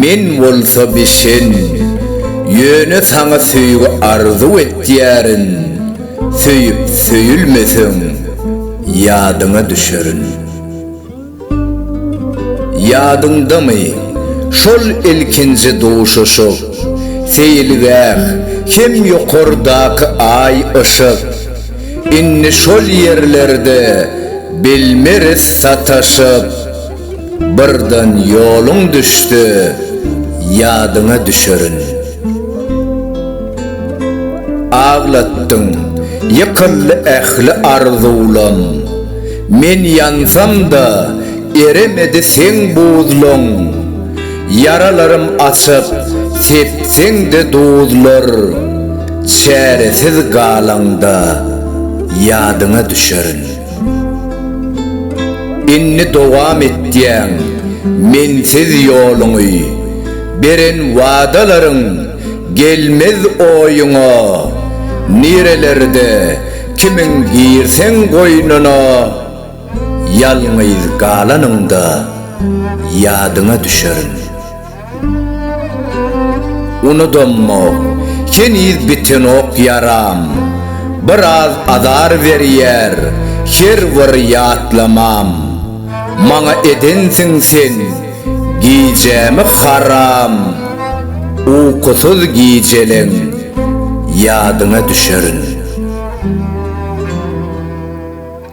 Men bolsa bişen, ýöne saňa söýgi arzuw etýärin, söýüp söýülmeseň, ýadyňa düşerin. Ýadyňdamy, şol ilkinji duşuşyk, seýilgäh hem ýokardaky aý yşyk, indi şol ýerlerde bilmeris sataşyp. Birden ýoluň düşse, ýadyňa düşerin. Aglatdyň, ýykyldy ähli arzuwlaň. Men ýansam-da, eremedi seň buzlaň. Ýaralarym açyp, sepseň-de duzlar. Çäresiz galaňda, ýadyňa düşerin. Indi dowam etýäň mensiz ýoluňy Beren wadalaryň gelmez oýuňa Nirelerde kimiň girseň goýnuna Ýalňyz galanyňda ýadyňa düşerin. Unudammok, heniz bitenok ýaram. Biraz azar berýär her bir ýatlamam. Maňa edensiň sen gijämi haram. Ukusyz gijeleň ýadyňa düşerin.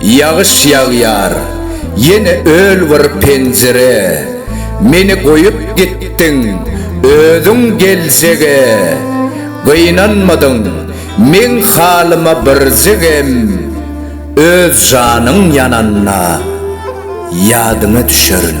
Ýagyş ýagýar, ýene öl bir penjire, Meni goýup gitdiň, özüň geljege. Gynanmadyň meň halyma birjigem, Öz janyň ýananda ýadyňa düşerin.